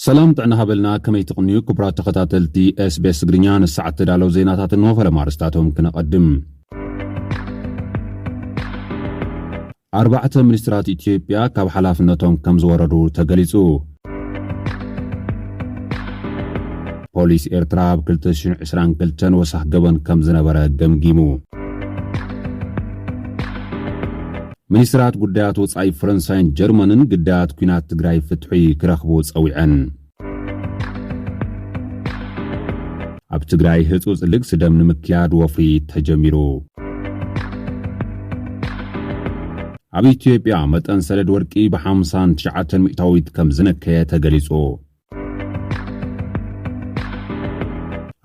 ሰላም ጥዕና ሃበልና ከመይ ትቕንዩ ክቡራት ተኸታተልቲ ስቤስ ትግርኛ ንሰዓት ተዳለው ዜናታት እንሆ ፈለማ ኣርስታቶም ክነቐድም ኣርባዕተ ሚኒስትራት ኢትዮጵያ ካብ ሓላፍነቶም ከም ዝወረዱ ተገሊጹ። ፖሊስ ኤርትራ ኣብ 2022 ወሳኽ ገበን ከም ዝነበረ ገምጊሙ። ሚኒስትራት ጉዳያት ወጻኢ ፈረንሳይን ጀርመንን ግዳያት ኲናት ትግራይ ፍትሒ ክረኽቡ ጸዊዐን። ኣብ ትግራይ ህፁፅ ልግሲ ደም ንምክያድ ወፍሪ ተጀሚሩ። ኣብ ኢትዮጵያ መጠን ሰደድ ወርቂ ብ59 ሚእታዊት ከም ዝነከየ ተገሊጹ።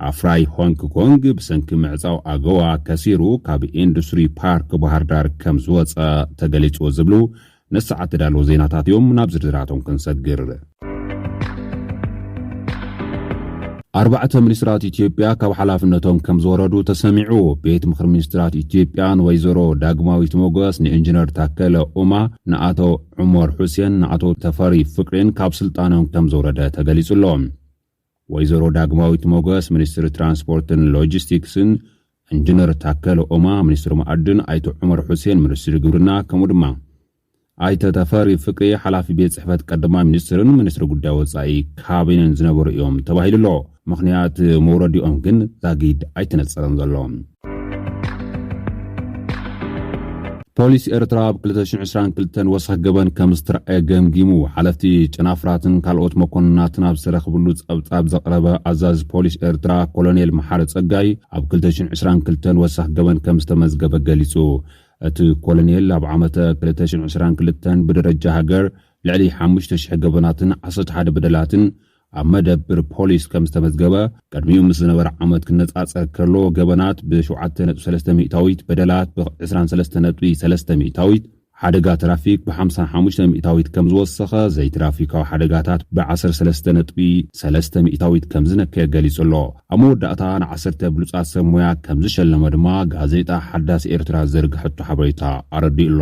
ኣፍራይ ሆንግ ኮንግ ብሰንኪ ምዕጻው ኣገዋ ከሲሩ ካብ ኢንዱስትሪ ፓርክ ባህርዳር ከም ዝወፀ ተገሊጹ ዝብሉ ነዚ ሰዓት ተዳለዉ ዜናታት እዮም ናብ ዝርዝራቶም ክንሰግር። ኣርባዕተ ሚኒስትራት ኢትዮጵያ ካብ ሓላፍነቶም ከም ዝወረዱ ተሰሚዑ። ቤት ምኽሪ ሚኒስትራት ኢትዮጵያ ንወይዘሮ ዳግማዊት ሞገስ፣ ንኢንጂነር ታከለ ኡማ፣ ንኣቶ ዑመር ሑሴን፣ ንኣቶ ተፈሪ ፍቅሬን ካብ ስልጣኖም ከም ዘውረደ ተገሊጹ ኣሎ። ወይዘሮ ዳግማዊት ሞገስ ሚኒስትሪ ትራንስፖርትን ሎጂስቲክስን፣ ኢንጂነር ታከለ ኡማ ሚኒስትሪ መኣድን፣ ኣይተ ዑመር ሑሴን ሚኒስትሪ ግብርና ከምኡ ድማ ኣይተ ተፈሪ ፍቅሬ ሓላፊ ቤት ፅሕፈት ቀዳማይ ሚኒስትርን ሚኒስትሪ ጉዳይ ወፃኢ ካቢነን ዝነበሩ እዮም ተባሂሉ'ሎ። ምኽንያት መውረዲኦም ግን ዛጊድ ኣይተነፀረን ዘሎ። ፖሊስ ኤርትራ ኣብ 222 ወሰኽ ገበን ከም ዝተረኣየ ገምጊሙ ሓለፍቲ ጨናፍራትን ካልኦት መኮንናትን ኣብ ዝተረኽብሉ ጸብጻብ ዘቕረበ ኣዛዚ ፖሊስ ኤርትራ ኮሎኔል መሓሪ ጸጋይ ኣብ 222 ወሰኽ ገበን ከም ዝተመዝገበ ገሊጹ። እቲ ኮሎኔል ኣብ ዓመተ 222 ብደረጃ ሃገር ልዕሊ 5,000 ገበናትን 11 በደላትን ኣብ መደብር ፖሊስ ከም ዝተመዝገበ ቅድሚኡ ምስ ዝነበረ ዓመት ክነጻጸር ከሎ ገበናት ብ7.3 ሚእታዊት፣ በደላት ብ23.3 ሚእታዊት፣ ሓደጋ ትራፊክ ብ55 ሚእታዊት ከም ዝወሰኸ፣ ዘይትራፊካዊ ሓደጋታት ብ13.3 ሚእታዊት ከም ዝነከየ ገሊጹ ኣሎ። ኣብ መወዳእታ ንዓሰርተ ብሉጻት ሰብ ሞያ ከም ዝሸለመ ድማ ጋዜጣ ሓዳስ ኤርትራ ዝዘርግሐቶ ሓበሬታ ኣረዲኡ ኣሎ።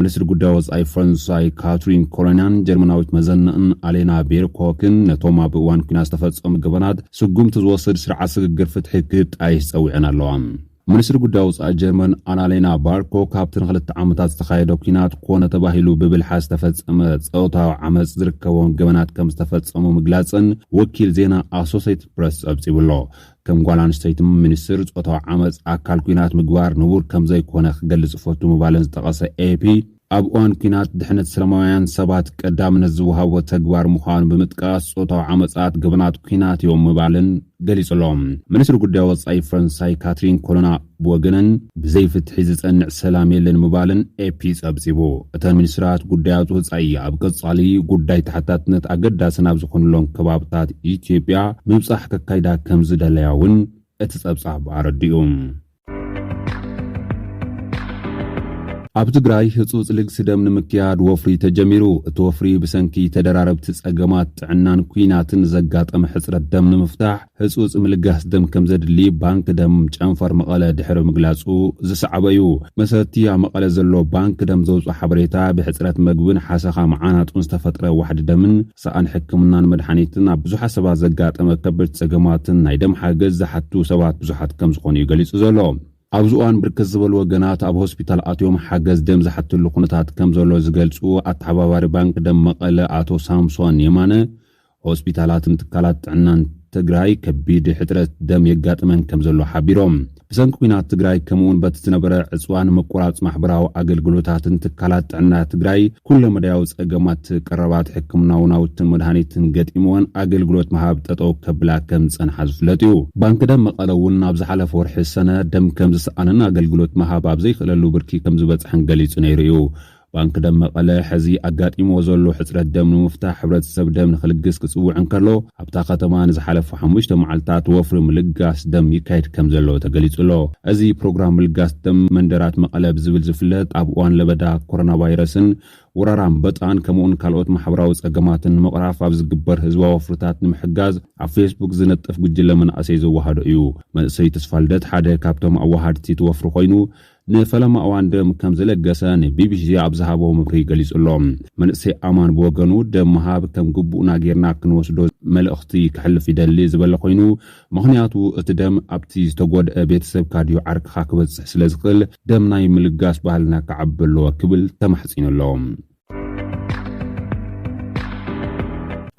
ሚኒስትሪ ጉዳይ ወጻኢ ፈረንሳይ ካትሪን ኮሎናን ጀርመናዊት መዘነእን ኣሌና ቤርኮክን ነቶም ኣብ እዋን ኩናት ዝተፈጸሙ ገበናት ስጉምቲ ዝወስድ ስርዓት ስግግር ፍትሒ ክጣየሽ ጸዊዐን ኣለዋ። ሚኒስትሪ ጉዳይ ወጻኢ ጀርመን ኣናሌና ባርኮክ ኣብቲ ንክልተ ዓመታት ዝተኻየደ ኩናት ኮነ ተባሂሉ ብብልሓ ዝተፈጸመ ጸውታዊ ዓመጽ ዝርከቦም ገበናት ከም ዝተፈጸሙ ምግላጸን ወኪል ዜና ኣሶሴትድ ፕረስ ጸብጺቡ'ሎ። ከም ጓል ኣንስተይቲ ሚኒስትር ጾታዊ ዓመጽ ኣካል ኲናት ምግባር ንቡር ከም ዘይኮነ ክገልጽ እፈቱ ምባለን ዝጠቐሰ ኤፒ ኣብ እዋን ኲናት ድሕነት ሰለማውያን ሰባት ቀዳምነት ዝወሃቦ ተግባር ምዃኑ ብምጥቃስ ጾታዊ ዓመጻት ገበናት ኲናት እዮም ምባልን ገሊጹ ኣሎ። ሚኒስትሪ ጉዳይ ወጻኢ ፈረንሳይ ካትሪን ኮሎና ብወገነን ብዘይ ፍትሒ ዝጸንዕ ሰላም የለን ምባለን ኤፒ ጸብጺቡ። እተን ሚኒስትራት ጉዳያት ወጻኢ ኣብ ቀጻሊ ጉዳይ ተሓታትነት ኣገዳሲ ናብ ዝኾኑሎም ከባብታት ኢትዮጵያ ምብጻሕ ከካይዳ ከምዝደለያ እውን እቲ ጸብጻብ ኣረዲኡ። ኣብ ትግራይ ህጹጽ ልግሲ ደም ንምክያድ ወፍሪ ተጀሚሩ። እቲ ወፍሪ ብሰንኪ ተደራረብቲ ጸገማት ጥዕናን ኲናትን ዘጋጠመ ሕጽረት ደም ንምፍታሕ ህጹጽ ምልጋስ ደም ከምዘድሊ ባንክ ደም ጨንፈር መቐለ ድሕሪ ምግላጹ ዝሰዕበ እዩ። መሰረት'ቲ ኣብ መቐለ ዘሎ ባንክ ደም ዘውጽኦ ሓበሬታ፣ ብሕጽረት መግብን ሓሰኻ መዓናጡን ዝተፈጥረ ዋሕዲ ደምን፣ ሰኣን ሕክምናን መድሓኒትን፣ ኣብ ብዙሓት ሰባት ዘጋጠመ ከበድቲ ጸገማትን ናይ ደም ሓገዝ ዝሓቱ ሰባት ብዙሓት ከምዝኾኑ'ዩ ገሊጹ ዘሎ። ኣብዚ እዋን ብርክት ዝበሉ ወገናት ኣብ ሆስፒታል ኣትዮም ሓገዝ ደም ዝሓትሉ ኩነታት ከምዘሎ ዝገልጹ ኣተሓባባሪ ባንክ ደም መቐለ ኣቶ ሳምሶን የማነ፣ ሆስፒታላትን ትካላት ጥዕናን ትግራይ ከቢድ ሕፅረት ደም የጋጥመን ከም ዘሎ ሓቢሮም። ብሰንኪ ኩናት ትግራይ ከምኡውን በቲ ዝነበረ ዕፅዋን መቆራፅ ማሕበራዊ ኣገልግሎታትን ትካላት ጥዕና ትግራይ ኩለመዳያዊ ፀገማት ቀረባት ሕክምናዊ ናውትን መድሃኒትን ገጢምወን ኣገልግሎት ምሃብ ጠጠው ከብላ ከም ዝፀንሓ ዝፍለጥ እዩ። ባንኪ ደም መቐለ እውን ናብ ዝሓለፈ ወርሒ ሰነ ደም ከም ዝሰኣነን ኣገልግሎት ምሃብ ኣብ ዘይክእለሉ ብርኪ ከም ዝበፅሐን ገሊፁ ነይሩ እዩ። ባንኪ ደም መቐለ ሕዚ ኣጋጢምዎ ዘሎ ሕፅረት ደም ንምፍታሕ ሕብረተሰብ ደም ንክልግስ ክፅውዕ እንከሎ ኣብታ ከተማ ንዝሓለፉ ሓሙሽተ መዓልታት ወፍሪ ምልጋስ ደም ይካየድ ከምዘሎ ተገሊፁ'ሎ። እዚ ፕሮግራም ምልጋስ ደም መንደራት መቐለ ብዝብል ዝፍለጥ ኣብ እዋን ለበዳ ኮሮናቫይረስን ወራር ኣምበጣን ከምኡ'ውን ካልኦት ማሕበራዊ ፀገማትን ንምቕራፍ ኣብ ዝግበር ህዝባዊ ወፍርታት ንምሕጋዝ ኣብ ፌስቡክ ዝነጥፍ ጉጅለ መናእሰይ ዘወሃዶ እዩ። መንእሰይ ተስፋልደት ሓደ ካብቶም ኣወሃድቲ እቲ ወፍሪ ኮይኑ ንፈለማ እዋን ደም ከም ዝለገሰ ንቢቢሲ ኣብ ዝሃቦ መብርሂ ገሊጹ'ሎ። መንእሰይ ኣማን ብወገኑ፣ ደም ምሃብ ከም ግቡእና ጌርና ክንወስዶ መልእኽቲ ከሕልፍ ይደሊ ዝበለ ኮይኑ፣ ምኽንያቱ እቲ ደም ኣብቲ ዝተጎድኣ ቤተሰብካ ድዩ ዓርክኻ ክበጽሕ ስለዝኽእል ደም ናይ ምልጋስ ባህልና ክዓቢ ኣለዎ ክብል ተማሕጺኑ'ሎ።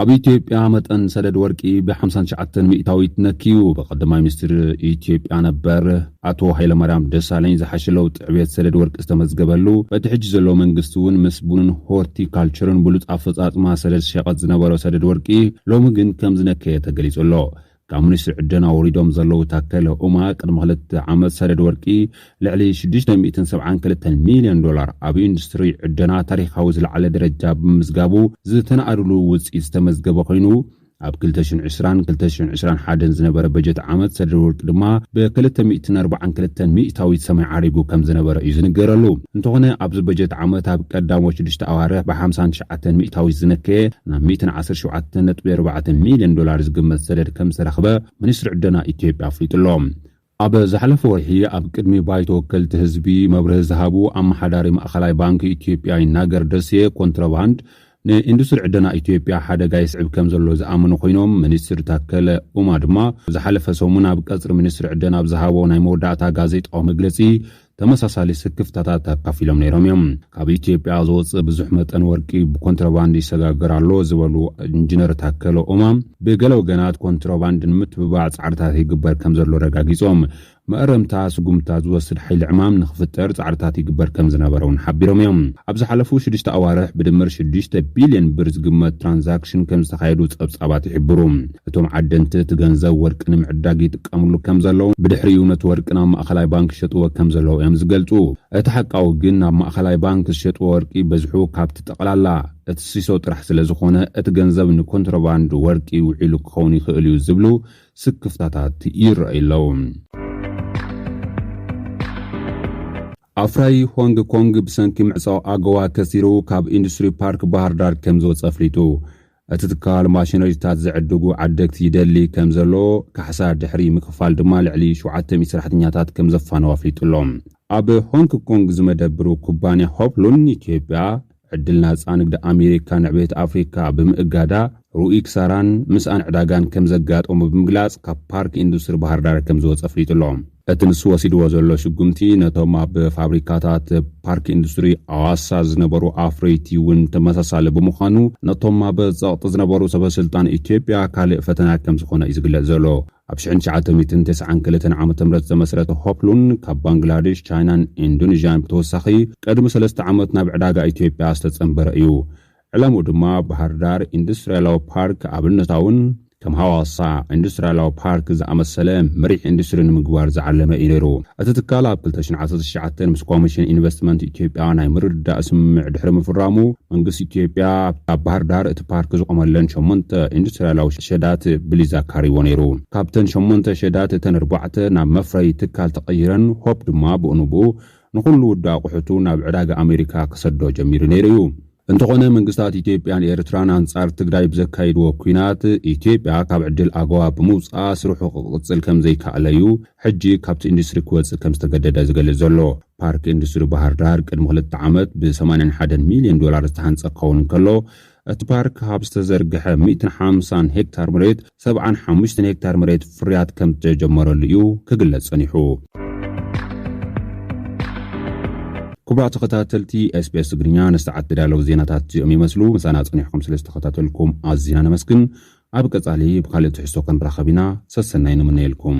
ኣብ ኢትዮጵያ መጠን ሰደድ ወርቂ ብ59 ሚእታዊት ነክዩ። ብቀዳማይ ሚኒስትር ኢትዮጵያ ነበር ኣቶ ሃይለማርያም ደሳለኝ ዝሓሸ ለውጢ ዕብየት ሰደድ ወርቂ ዝተመዝገበሉ፣ በቲ ሕጂ ዘሎ መንግስቲ እውን ምስ ቡንን ሆርቲካልቸርን ብሉፅ ኣፈፃፅማ ሰደድ ዝሸቀጥ ዝነበሮ ሰደድ ወርቂ ሎሚ ግን ከምዝነከየ ተገሊፁ ኣሎ። ካብ ሚኒስትሪ ዕደና ወሪዶም ዘለዉ ታከለ ኡማ ቅድሚ ክልተ ዓመት ሰደድ ወርቂ ልዕሊ ሽዱሽተ ሚእትን ሰብዓን ክልተን ሚልዮን ዶላር ኣብ ኢንዱስትሪ ዕደና ታሪኻዊ ዝለዓለ ደረጃ ብምምዝጋቡ ዝተነኣድሉ ውፅኢት ዝተመዝገበ ኮይኑ ኣብ ክልተ ሽሕን ዕስራን ክልተ ሽሕን ዕስራን ሓደን ዝነበረ በጀት ዓመት ሰደድ ወርቂ ድማ ብክልተ ሚእትን ኣርባዓን ክልተን ሚእታዊት ሰማይ ዓሪጉ ከምዝነበረ እዩ ዝንገረሉ። እንተኾነ ኣብዚ በጀት ዓመት ኣብ ቀዳሞት ሽዱሽተ ኣዋርሕ ብሓምሳን ኣተን ሚእታዊት ዝነከየ ናብ ሚእትን ዓሰርተ ሸውዓተን ነጥቢ ኣርባዕተ ሚልዮን ዶላር ዝግመት ሰደድ ከምዝተረኽበ ሚኒስትሪ ዕደና ኢትዮጵያ ኣፍሊጡ'ሎ። ኣብ ዝሓለፈ ወርሒ ኣብ ቅድሚ ባይቶ ወከልቲ ህዝቢ መብርሂ ዝሃቡ ኣመሓዳሪ ማእኸላይ ባንኪ ኢትዮጵያ ይናገር ደሴ ኮንትሮባንድ ንኢንዱስትሪ ዕደና ኢትዮጵያ ሓደጋ የስዕብ ከምዘሎ ዝኣመኑ ኮይኖም ሚኒስትር ታከለ ኡማ ድማ ዝሓለፈ ሰሙን ኣብ ቀፅሪ ሚኒስትሪ ዕደና ኣብ ዝሃቦ ናይ መወዳእታ ጋዜጣዊ መግለፂ ተመሳሳሊ ስክፍታታት ኣካፊሎም ነይሮም እዮም። ካብ ኢትዮጵያ ዝወፅእ ብዙሕ መጠን ወርቂ ብኮንትሮባንድ ይሰጋገር ኣሎ ዝበሉ ኢንጂነር ታከለ ኡማ ብገለ ወገናት ኮንትሮባንድ ንምትብባዕ ፃዕርታት ይግበር ከም ዘሎ ረጋጊፆም መእረምታ ስጉምታ ዝወስድ ሓይሊ ዕማም ንክፍጠር ፃዕርታት ይግበር ከም ዝነበረ እውን ሓቢሮም እዮም። ኣብ ዝሓለፉ ሽዱሽተ ኣዋርሕ ብድምር ሽዱሽተ ቢልዮን ብር ዝግመት ትራንዛክሽን ከም ዝተኻየዱ ፀብፃባት ይሕብሩ። እቶም ዓደንቲ እቲ ገንዘብ ወርቂ ንምዕዳግ ይጥቀምሉ ከም ዘለዉ፣ ብድሕሪኡ ነቲ ወርቂ ናብ ማእኸላይ ባንክ ይሸጥዎ ከም ዘለዉ እዮም ዝገልፁ። እቲ ሓቃዊ ግን ናብ ማእኸላይ ባንክ ዝሸጥዎ ወርቂ በዝሑ ካብቲ ጠቕላላ እቲ ሲሶ ጥራሕ ስለ ዝኾነ እቲ ገንዘብ ንኮንትሮባንድ ወርቂ ውዒሉ ክኸውን ይኽእል እዩ ዝብሉ ስክፍታታት ይረኣዩ ኣለዉ። ኣፍራዪ ሆንግ ኮንግ ብሰንኪ ምዕፃው ኣጎዋ ከሲሩ ካብ ኢንዱስትሪ ፓርክ ባህርዳር ከም ዝወፀ ኣፍሊጡ። እቲ ትካል ማሽነሪታት ዝዕድጉ ዓደግቲ ይደሊ ከም ዘሎ፣ ካሕሳ ድሕሪ ምክፋል ድማ ልዕሊ ሸውዓተ ሚእቲ ሰራሕተኛታት ከም ዘፋነው ኣፍሊጡ ኣሎ። ኣብ ሆንግ ኮንግ ዝመደብሩ ኩባንያ ሆፕሉን ኢትዮጵያ፣ ዕድል ናጻ ንግዲ ኣሜሪካ ንዕቤት ኣፍሪካ ብምእጋዳ ርኡይ ክሳራን ምስኣን ዕዳጋን ከም ዘጋጠሞ ብምግላጽ ካብ ፓርክ ኢንዱስትሪ ባህርዳር ከም ዝወጸ ኣፍሊጡ ኣሎ። እቲ ንሱ ወሲድዎ ዘሎ ስጉምቲ ነቶም ኣብ ፋብሪካታት ፓርክ ኢንዱስትሪ ኣዋሳ ዝነበሩ ኣፍረይቲ እውን ተመሳሳሊ ብምዃኑ ነቶም ኣብ ጸቕጢ ዝነበሩ ሰበስልጣን ኢትዮጵያ ካልእ ፈተና ከም ዝኾነ እዩ ዝግለጽ ዘሎ። ኣብ ሽሕን ትሽዓተ ሚእትን ተስዓን ክልተን ዓመተ ምህረት ዝተመስረተ ሆፕሉን ካብ ባንግላዴሽ፣ ቻይናን ኢንዶኔዥያን ብተወሳኺ ቅድሚ ሰለስተ ዓመት ናብ ዕዳጋ ኢትዮጵያ ዝተጸንበረ እዩ። ዕላምኡ ድማ ባህርዳር ኢንዱስትሪያላዊ ፓርክ ኣብነታውን ከም ሃዋሳ ኢንዱስትሪያላዊ ፓርክ ዝኣመሰለ መሪሕ ኢንዱስትሪ ንምግባር ዝዓለመ እዩ ነይሩ። እቲ ትካል ኣብ ክልተ ሽሕን ዓሰርተ ትሽዓተን ምስ ኮሚሽን ኢንቨስትመንት ኢትዮጵያ ናይ ምርድዳእ ስምምዕ ድሕሪ ምፍራሙ መንግስቲ ኢትዮጵያ ኣብ ባህርዳር እቲ ፓርክ ዝቖመለን ሸሞንተ ኢንዱስትሪያላዊ ሸዳት ብሊዝ ኣካርይዎ ነይሩ። ካብተን ሸሞንተ ሸዳት እተን ኣርባዕተ ናብ መፍረዪ ትካል ተቐይረን ሆፕ ድማ ብኡንብኡ ንኹሉ ውዲ ኣቑሑቱ ናብ ዕዳጋ ኣሜሪካ ክሰዶ ጀሚሩ ነይሩ እዩ። እንተኾነ መንግስታት ኢትዮጵያን ኤርትራን ኣንጻር ትግራይ ብዘካይድዎ ኲናት፣ ኢትዮጵያ ካብ ዕድል ኣጎዋ ብምውጽኣ ስርሑ ክቕጽል ከምዘይካኣለ እዩ ሕጂ ካብቲ ኢንዱስትሪ ክወጽእ ከምዝተገደደ ዝገልጽ ዘሎ። ፓርክ ኢንዱስትሪ ባህርዳር ቅድሚ ክልተ ዓመት ብ ሰማንያን ሓደን ሚልዮን ዶላር ዝተሃንጸ ክኸውን እንከሎ፣ እቲ ፓርክ ካብ ዝተዘርግሐ ሚእትን ሓምሳን ሄክታር መሬት ሰብዓን ሓሙሽተን ሄክታር መሬት ፍርያት ከምዝተጀመረሉ እዩ ክግለጽ ጸኒሑ። ክቡራት ተኸታተልቲ ኤስቢኤስ ትግርኛ ንሰዓት ዝተዳለዉ ዜናታት እዚኦም ይመስሉ። ምሳና ጸኒሕኩም ስለ ዝተኸታተልኩም ኣዚና ነመስግን። ኣብ ቀጻሊ ብካልእ ትሕዝቶ ክንራኸብ ኢና። ሰሰናይ ንምነየልኩም።